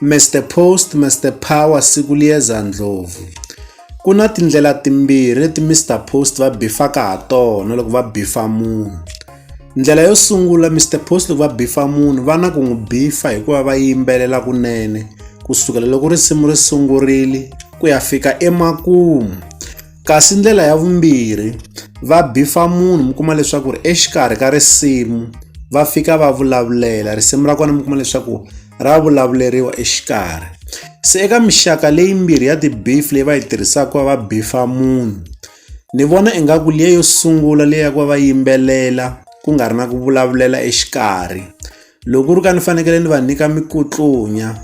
Mister Post, Mister Power, Sikuliyeza Ndlovu. Ku na tindlela timbirhi leti Mister Post va bifaka ha tona loko va bifa munhu. Ndlela yo sungula Mister Post loko va bifa munhu va na ku n'wi bifa hikuva va yimbelela kunene ku sukela loko risimu ri sungurile ku ya fika emakumu. kasi ndlela ya vumbirhi va bifa munhu mi kuma leswaku ri exikarhi ka risimu va fika va vulavulela risimu ra kona mi kuma leswaku ra vulavuleriwa exikarhi se eka mixaka leyi mbirhi ya ti-beef leyi va yi tirhisaka ku va va bifa munhu ni vona ingaku liya yo sungula leyi ya ku va va yimbelela ku nga ri na ku vulavulela exikarhi Loko ku ri ka ni fanekele ni va nyika mikutlunya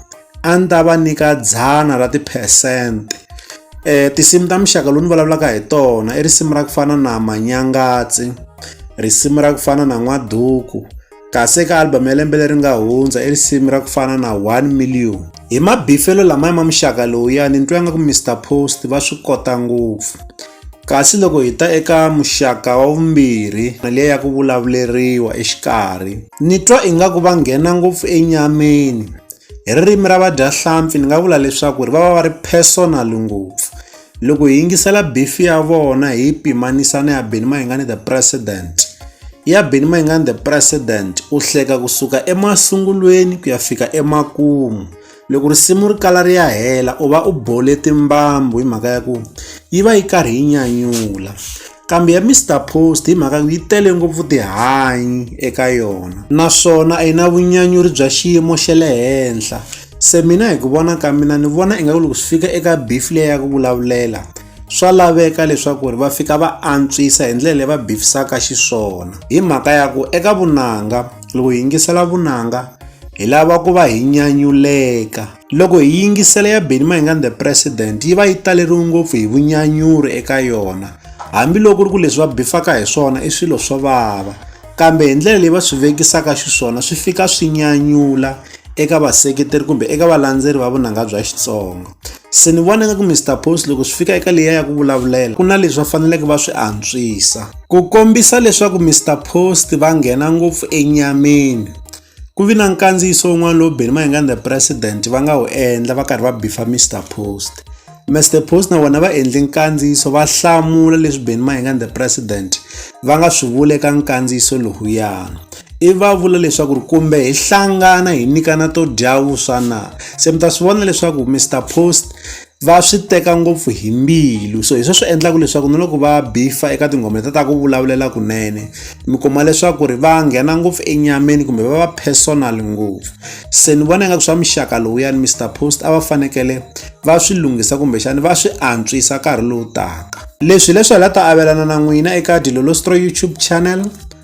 a ni ta va nyika dzana ra tiphesente. Tinsimu ta muxaka lowu ni vulavulaka hi tona i risimu ra ku fana na manyangatsi, risimu ra ku fana na n'waduku kasi eka album ya lembe leri nga hundza i risimu ra ku fana na one million. Hi mabifelo lamaya ma muxaka lowuyani ni twa nga ku Mister Post va swi kota ngopfu. Kasi loko hi ta eka muxaka wa vumbirhi, mali ya ku vulavuleriwa exikarhi. Ni twa ingaku va nghena ngopfu enyameni. Hi ririmi ra vadyahlampfi ni nga vula leswaku ri va va va ri personal ngopfu. Loko hi yingisela beef ya vona hi yi pimanisa na ya Benny Mayengani the president, ya Benny Mayengani the president u hleka kusuka emasungulweni ku ya fika emakumu. loko risimu ri kala ri ya hela u va u bole timbambu hi mhaka ya ku yi va yi karhi yi nyanyula kambe ya Mr Post hi mhaka yi tele ngopfu tihanyi eka yona naswona a yi na vunyanyuri bya xiyimo xa le henhla se mina hi ku vona ka mina ni vona ingaku loko swi fika eka beef leyi ya ku vulavulela swa laveka leswaku ri va fika va antswisa hi ndlela leyi va bifisaka xiswona hi mhaka ya ku eka vunanga Loko hi yingisela vunanga hi lava ku va hi nyanyuleka loko hi yingisela ya Benny Mayengani the president yi va yi taleriwe ngopfu hi vunyanyuri eka yona hambiloko ri ku leswi va bifaka hi swona i swilo swo vava kambe hi ndlela leyi va swi vekisaka xiswona swi fika swi nyanyula eka vaseketeri kumbe eka valandzeri va vunanga bya Xitsonga Se ni vona nga ku Mister Post loko swi fika eka leyi ya ku vulavulela ku na leswi va faneleke va swi antswisa. Ku kombisa leswaku Mister Post va nghena ngopfu enyameni, ku vi na nkandziyiso wun'wana lowu Benny Mayengani the President va nga wu endla va karhi va bifa Mister Post. Mister Post na vona va endle nkandziyiso va hlamula leswi Benny Mayengani the President va nga swi vula eka nkandziyiso lowuyani. i va vula leswaku ri kumbe hi hlangana hi nyikana to dya vuswa na se mi ta swi vona leswaku mr post va swi teka ngopfu hi mbilu so hi swo swi endlaka leswaku na loko va bifa eka tinghoma ta ta ku vulavulela kunene mi kuma leswaku ri va nghena ngopfu enyameni kumbe va va personal ngopfu se ni vona ingaku swa muxaka lowuyani mr post a va fanekele va swi lunghisa kumbexani va swi antswisa nkarhi lowu taka leswi leswi hi la ta avelana na n'wina eka dilolostro youtube channel